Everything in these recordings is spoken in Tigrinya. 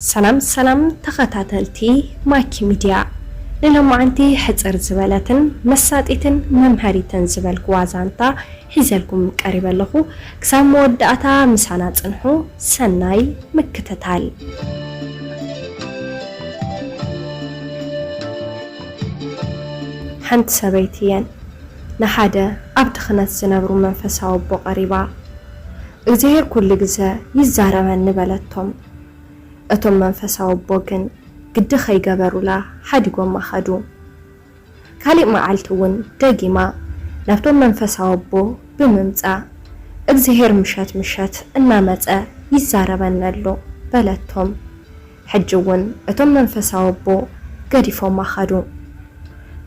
ሰላም ሰላም ተኸታተልቲ ማይኪ ሚድያ ንሎማዓንቲ ሕጽር ዝበለትን መሳጢትን መምሀሪትን ዝበልክዋ ዛንታ ሒዘልኩም ቀሪበ ኣለኹ ክሳብ መወዳእታ ምሳና ጽንሑ ሰናይ ምክትታል። ሓንቲ ሰበይቲ እየን ንሓደ ኣብ ድኽነት ዝነብሩ መንፈሳዊ ኣቦ ቀሪባ፣ እግዚሄር ኩሉ ግዘ ይዛረበኒ በለቶም። እቶም መንፈሳዊ ኣቦ ግን ግዲ ኸይገበሩላ ሓዲጎማ ኸዱ። ካልእ መዓልቲ እውን ደጊማ ናብቶም መንፈሳዊ ኣቦ ብምምጻእ፣ እግዚሄር ምሸት ምሸት እናመጸ ይዛረበኒ ኣሎ በለቶም። ሕጂ እውን እቶም መንፈሳዊ ኣቦ ገዲፎማ ኸዱ።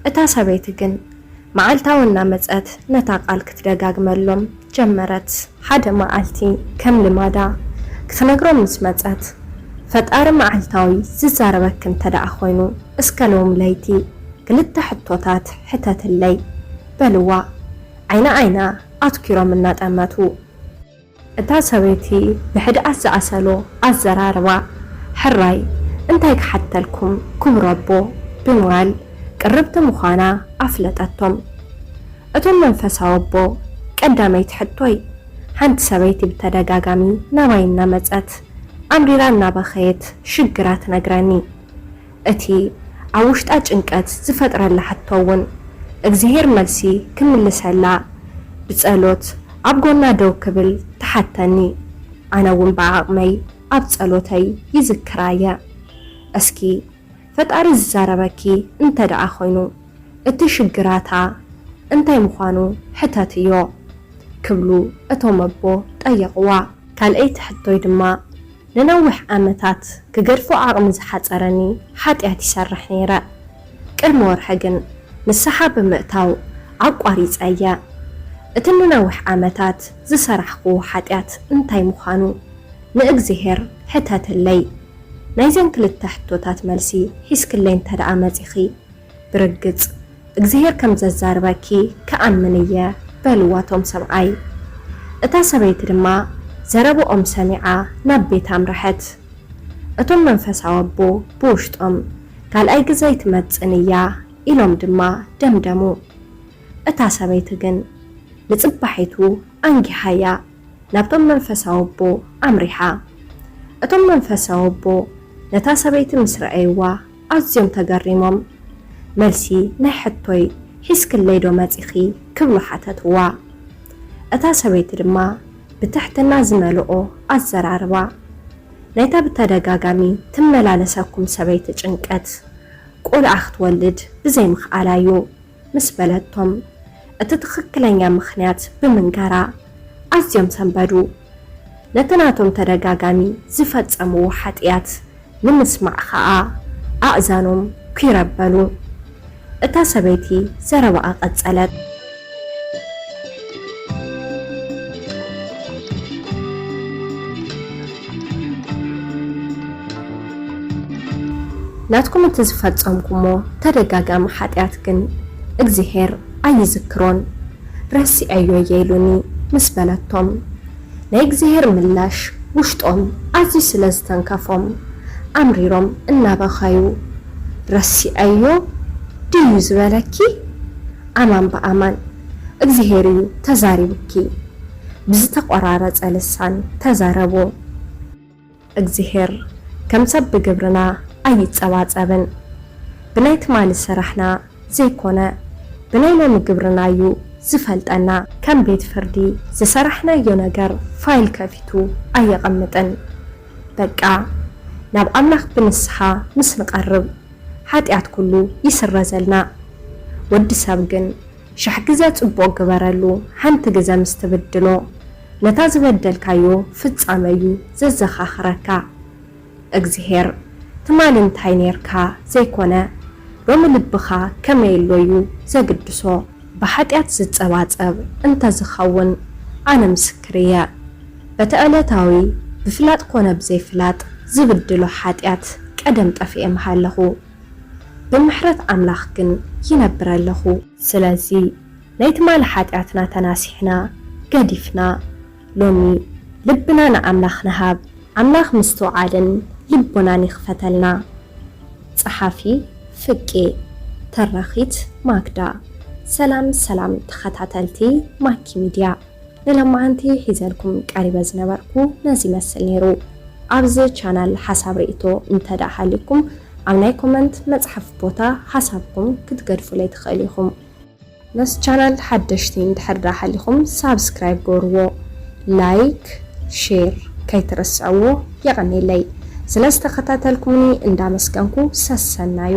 እታ ሰበይቲ ግን መዓልታዊ እናመጸት ነታ ቃል ክትደጋግመሎም ጀመረት። ሓደ መዓልቲ ከም ልማዳ ክትነግሮም ምስ መጸት፣ ፈጣሪ መዓልታዊ ዝዛረበኪ እንተደኣ ኮይኑ እስከ ሎሚ ለይቲ ክልተ ሕቶታት ሕተትለይ። በልዋ። ዓይኒ ዓይና ኣትኲሮም እናጠመቱ። እታ ሰበይቲ ብሕድኣት ዝኣሰሎ ኣዘራርባ፣ ሕራይ እንታይ ክሓተልኩም ክብረቦ፣ ብምባል ቅርብቲ ምዃና ኣፍለጠቶም። እቶም መንፈሳዊ ኣቦ፣ ቀዳመይቲ ሕቶይ፣ ሓንቲ ሰበይቲ ብተደጋጋሚ ናባይ እናመጸት፣ ኣምሪራ እናበኸየት ሽግራ ትነግረኒ። እቲ ኣብ ውሽጣ ጭንቀት ዝፈጥረላ ሕቶ ውን እግዚሄር መልሲ ክምልሰላ ብጸሎት ኣብ ጎና ደው ክብል ትሓተኒ ኣነ ውን ብዓቅመይ ኣብ ጸሎተይ ይዝክራ እየ እስኪ ፈጣሪ ዝዛረበኪ እንተ ደኣ ኮይኑ እቲ ሽግራታ እንታይ ምኳኑ ሕተትዮ ክብሉ እቶም ኣቦ ጠየቅዋ። ካልኣይቲ ሕቶይ ድማ ንነዊሕ ዓመታት ክገድፎ ዓቕሚ ዝሓጸረኒ ሓጢኣት ይሰርሕ ነይረ። ቅድሚ ወርሒ ግን ንስሓ ብምእታው ኣቋሪጸያ። እቲ ንነዊሕ ዓመታት ዝሰራሕክዎ ሓጢኣት እንታይ ምዃኑ ንእግዚኣብሄር ሕተትለይ። ናይዘን ክልተ ሕቶታት መልሲ ሒዝክለይ እንተድኣ መጺኺ፣ ብርግጽ እግዚሄር ከም ዘዛርበኪ ክኣምን እየ በልዋ ቶም ሰብኣይ። እታ ሰበይቲ ድማ ዘረብኦም ሰሚዓ ናብ ቤታ ኣምረሐት። እቶም መንፈሳዊ ኣቦ ብውሽጦም ካልኣይ ግዘ ኣይትመጽእን እያ ኢሎም ድማ ደምደሙ። እታ ሰበይቲ ግን ንጽባሒቱ ኣንጊሃያ ናብቶም መንፈሳዊ ኣቦ ኣምሪሓ። እቶም መንፈሳዊ ኣቦ ነታ ሰበይቲ ምስ ረኣይዋ ኣዝዮም ተገሪሞም መልሲ ናይ ሕቶይ ሒዝክለይ ዶ መጺኺ ክብሉ ሓተትዋ። እታ ሰበይቲ ድማ ብትሕትና ዝመልኦ ኣዘራርባ ናይታ ብተደጋጋሚ ትመላለሰኩም ሰበይቲ ጭንቀት ቆልዓ ክትወልድ ብዘይምኽኣላ'ዩ። ምስ በለቶም፣ እቲ ትኽክለኛ ምኽንያት ብምንጋራ ኣዝዮም ሰንበዱ። ነቲ ናቶም ተደጋጋሚ ዝፈጸምዎ ሓጥያት ንምስማዕ ኸኣ ኣእዛኖም ኲር ኣበሉ። እታ ሰበይቲ ዘረባኣ ቀጸለት። ናትኩም እቲ ዝፈጸምኩሞ ተደጋጋሚ ሓጢኣት ግን እግዚሄር ኣይዝክሮን ረሲዐዮ እየ ኢሉኒ ምስ በለቶም ናይ እግዚሄር ምላሽ ውሽጦም ኣዝዩ ስለ ዝተንከፎም ኣምሪሮም እናበኸዩ ረሲዐዮ ድዩ ዝበለኪ ኣማን ብኣማን እግዚሄር እዩ ተዛሪቡኪ ብዝተቆራረጸ ልሳን ተዛረቡ። እግዚሄር ከም ሰብ ብግብርና ኣይጸባጸብን። ብናይ ትማሊ ስራሕና ዘይኮነ ብናይ ሎሚ ግብርና እዩ ዝፈልጠና። ከም ቤት ፍርዲ ዝሰራሕናዮ ነገር ፋይል ከፊቱ ኣየቐምጥን። በቃ ናብ ኣምላኽ ብንስሓ ምስ ንቐርብ ሓጢኣት ኩሉ ይስረዘልና። ወዲ ሰብ ግን ሸሕ ግዘ ፅቡቅ ግበረሉ ሓንቲ ግዘ ምስ ትብድሎ ነታ ዝበደልካዮ ፍፃመ እዩ ዘዘካክረካ እግዝሄር ትማሊ እንታይ ነይርካ ዘይኮነ ሎሚ ልብካ ከመይ ኣሎ እዩ ዘግድሶ ብሓጥያት ዝፀባፀብ እንተዝከውን ኣነ ምስክር እየ በቲ ዕለታዊ ብፍላጥ ኮነ ብዘይፍላጥ ዝብድሎ ሓጥያት ቀደም ጠፊኤ ምሃለኩ ብምሕረት ኣምላኽ ግን ይነብር ኣለኹ። ስለዚ ናይ ትማሊ ሓጢኣትና ተናሲሕና፣ ገዲፍና፣ ሎሚ ልብና ንኣምላኽ ንሃብ። ኣምላኽ ምስትውዓልን ልቦናን ይኽፈተልና። ጸሓፊ፣ ፍቄ፣ ተራኺት፣ ማክዳ። ሰላም ሰላም ተኸታተልቲ ማኪ ሚድያ። ንለማዓንቲ ሒዘልኩም ቀሪበ ዝነበርኩ ነዚ ይመስል ነይሩ ኣብዚ ቻናል ሓሳብ ሪኢቶ እንተድኣ ሃልዩኩም ኣብ ናይ ኮመንት መጽሓፍ ቦታ ሓሳብኩም ክትገድፉለይ ትክእሉ ኢኩም። ነዚ ቻናል ሓደሽቲ እንድሕር ድኣ ሃሊኩም ሳብስክራይብ ግበርዎ ላይክ ሼር ከይትርስዕዎ የቀኔለይ ስለ ዝተከታተልኩሙኒ እንዳመስገንኩ ሰሰናዩ።